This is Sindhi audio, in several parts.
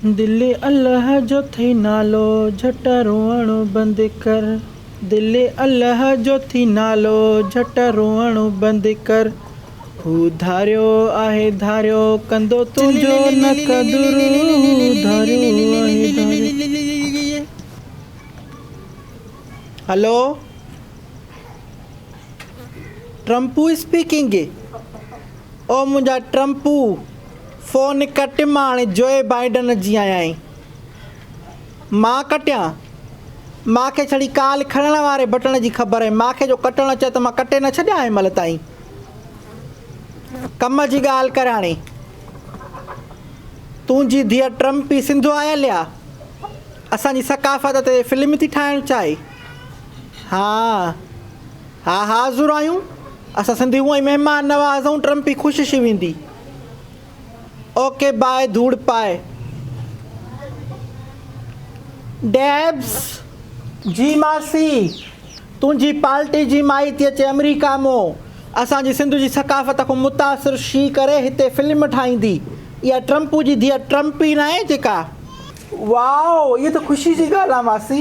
دل الله جو ٿئي نالو جهٽ روئڻ بند ڪر دل الله جو ٿئي نالو جهٽ روئڻ بند ڪر هو ڌاريو آهي ڌاريو ڪندو تنهنجو نه قدر هو ڌاريو آهي ڌاريو هلو ٽرمپو اسپيڪنگ. او منهنجا ٽرمپو، فون ڪٽ مان هاڻي جوئي بائيڊن جي آهيان. مان ڪٽيان؟ مان کي ڇڙي ڪال کڻڻ واري بٽڻ جي خبر هئي. مان کي جو ڪٽڻ اچي ها ته مان ڪٽي نه ڇڏيان ها هن مهل تائين. ڪم جي ڳالهه ڪر هاڻي. تنهنجي ڌيء ٽرمپي سنڌو آيل ها. اسان جي ثقافت تي فلم ٿي ٺاهڻ چاهي. ها ها حاضر آهيون اسان سنڌي هونء ئي مهمان نواز آهون ٽرمپ ئي خوش شي ويندي اوڪي باء ڌوڙ پاء ڊيبس جي ماسي تنهنجي پالٽي جي مائي ٿي اچي امريڪا مو اسان جي سنڌ جي ثقافت کون متاثر شي ڪري هتي فلم ٺاهيندي اها ٽرمپو جي ڌيء ٽرمپي ناهي جيڪا واء اهي ته خوشي جي ڳالهه آهي ماسي.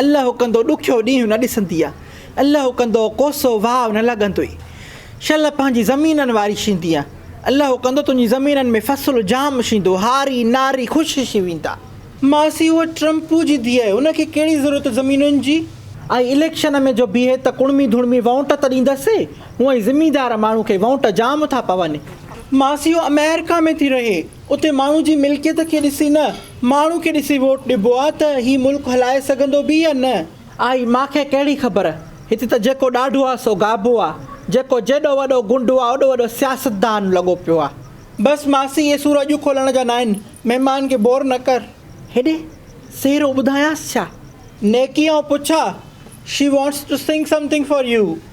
الله ڪندو ڏکيو ڏينهن نه ڏسنديء، الله ڪندو ڪوسو واء نه لڳندوئي، شل پنهنجي زمينن واري شينديء، الله ڪندو تنهنجي زمينن ۾ فصل جام شيندو، هاري ناري خوش شي ويندا. ماسي اهو ٽرمپو جي ڌيء آهي، ان کي ڪهڙي ضرورت زمينن جي؟ آئي اليڪشن ۾ جو بيهي ته ڪڻمي ڌڻمي وونٽ ته ڏيندس، هونئن زميندار ماڻهو کي وونٽ جام ٿا پون. ماسي اهو آمريڪا ۾ ٿي رهي. اتي ماڻهو جي ملڪيت کي ڏسي نه ماڻهو کي ڏسي ووٽ ڏبو آ ته هي ملڪ هلائي سگهندو به يا نه. آئي مان کي ڪهڙي خبر. هتي ته جيڪو ڏاڍو آ سو گابو آ. جيڪو جيڏو وڏو گنڊو آ اوڏو وڏو سياستدان لڳو پيو آ. بس ماسي اهي سور اڄ کولڻ جا ناهن. مهمان کي بور نه ڪر. هيڏي سهرو ٻڌايانس ڇا. نيڪي آئون پڇان. She wants to sing something for you.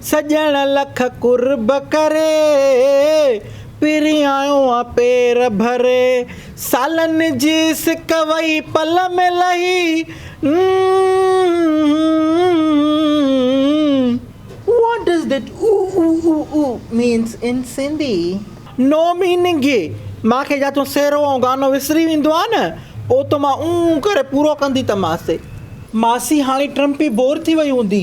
سڄڻ لک قرب ڪري، پريائيو آ پير ڀري، سالن جي سڪ وئي پل ۾ لهي، م. What does that u u u u means in Sindhi? No meaning اي، مان کي جا تون سهرو ۽ گانو وسري ويندو آ نه، پوء ته مان اون اون ڪري پورو ڪندي ته ماسي. ماسي هاڻي ٽرمپي بور ٿي وئي هوندي،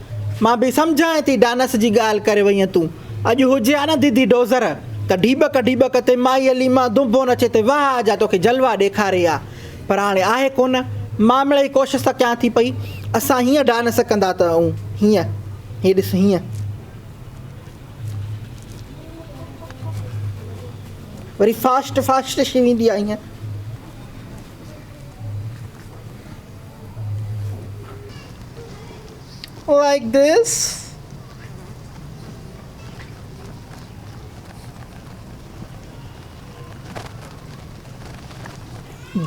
مان به سمجهانء ٿي ڊانس جي ڳالهه ڪري وئينء تون اڄ هجي ها نه ديدي ڊوزر ته ڍيٻڪ ڍيٻڪ تي مائي علي مان دنبو نچي ته واهه آجا توکي جلوا ڏيکاري ها پر هاڻي آهي ڪونه مان مڙئي ڪوشس ته ڪيان ٿي پئي اسان هيئن ڊانس ڪندا ته ائون هيئن هي ڏس هيئن وري فاسٽ فاسٽ شي ويندي آهي هيئن. Like this.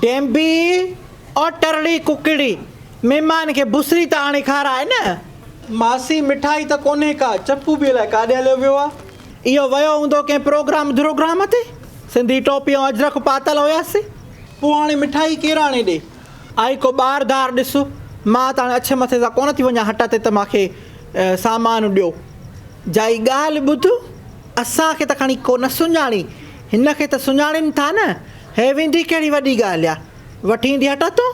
ڊينبي اور ٽرڙي ڪڪڙي مھمان کي بسري ته آڻي کارائي نه. ماسي مٺائي ته ڪونھي ڪا. چپو به الائي ڪاڏي ھليو ويو آ. اھو ويو ھوندو ڪنھن پروگرام دروگرام تي. سنڌي ٽوپي ۽ اجرڪ پاتل ھياسين. پوء ھاڻي مٺائي ڪير آڻي ڏي. آء ڪو ٻار ڌار ڏس، مان ته هاڻي اڇ مٿي سان ڪونه ٿي وڃان هٽ تي ته مان کي سامان ڏيو. جائي ڳالهه ٻڌ، اسان کي ته کڻي ڪو نه سڃاڻي، هن کي ته سڃاڻين ٿا نه، هي ويندي ڪهڙي وڏي ڳالهه آ، وٺي ايندي هٽ تون.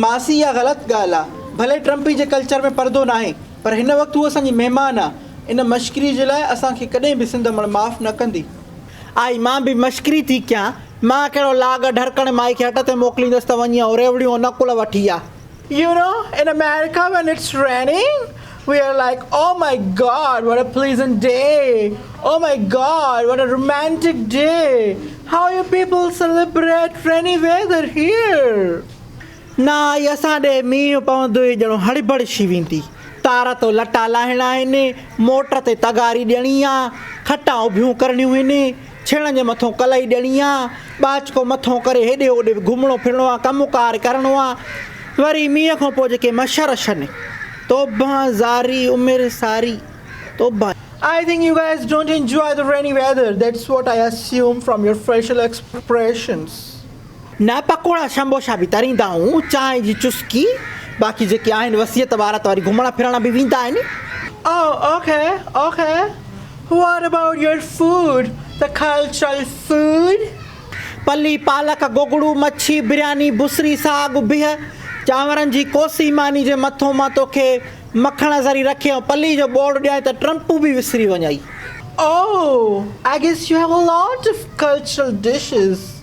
ماسي اها غلط ڳالهه آ، ڀلي ٽرمپي جي ڪلچر ۾ پردو ناهي، پر هن وقت هوء اسان جي مهمان آ، ان مشڪري جي لاء اسان کي ڪڏهن به سنڌ امڙ معاف نه ڪندي. آئي مان به مشڪري ٿي ڪيان. مان ڪهڙو لاڳ ڍرڪڻ مائي کي هٽ تي موڪليندس ته وڃي ۽ ريوڙيون ۽ نڪل وٺي آ. You know in America when it's raining we are like oh my god what a pleasant day oh my god what a romantic day how you people celebrate rainy weather here. نه آئي اسان ڏي مينهن پوندو ئي ڄڻو هڙٻڙ شي ويندي. تار تون لٽا لاهڻا آهن، موٽر تي تغاري ڏيڻي آ، کٽان اڀيون ڪرڻيون هن، ڇيڻن جي مٿون ڪلئي ڏيڻي آ، ٻاچڪو مٿون ڪري هيڏي هوڏي به گهمڻو ڦرڻو آ، ڪم ڪار ڪرڻو آ. وري مينهن کان پوء جيڪي مڇر اڇن. توبهان زاري عمر ساري توبهان. I think you guys don't enjoy the rainy weather that's what I assume from your facial expressions. نه پڪوڙا شمبوشا به تريندا آهون چانهه جي چسڪي باقي جيڪي آهن وصيت وارا ته وري گهمڻ ڦرڻ به ويندا آهن. Oh ok ok What about your food the cultural food. پلي پالڪ گوگڙو مڇي برياني بصري ساڳ بيهه چانورن جي ڪوسي ماني جي مٿو مان توکي مکڻ ذري رکي ۽ پلي جو ٻوڙ ڏيانء ته ٽرمپون به وسري وڃئي. Oh I guess you have a lot of cultural dishes.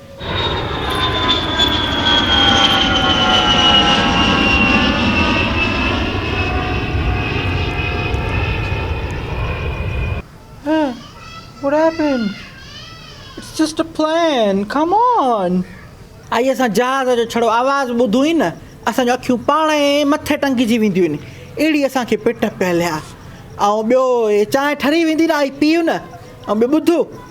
آئي اسان جهاز جو ڇڙو آواز ٻڌو ئي نه اسان جون اکيون پاڻ ئي مٿي ٽنگجي وينديون آهن اهڙي اسانکي پٽ پهليا ۽ ٻيو چانهه ٺري ويندي نه آئي پيو نه ۽ ٻيو ٻڌو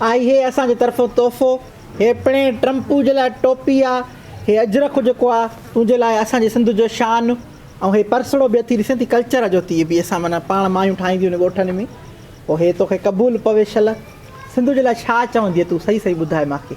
اهي اسان جي طرفون تحفو. هي پڻي ٽرمپو جي لاء ٽوپي آ. هي اجرڪ جيڪو آ تنهنجي لاء اسان جي سنڌ جو شان. ۽ هي پرسڙو به اٿي ڏسين ٿي ڪلچر جو تي به اسان معنيٰ پاڻ مايون ٺاهينديون آهن ڳوٺن ۾ پوء هي توکي قبول پوي شل. سنڌو جي لاء ڇا چوندينء تون صحيح صحيح ٻڌاء ماکي.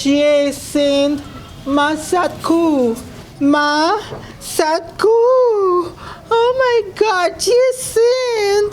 جي سيند مان سات کوهه مان سات کوهه او ماء گاڊ جي سيند.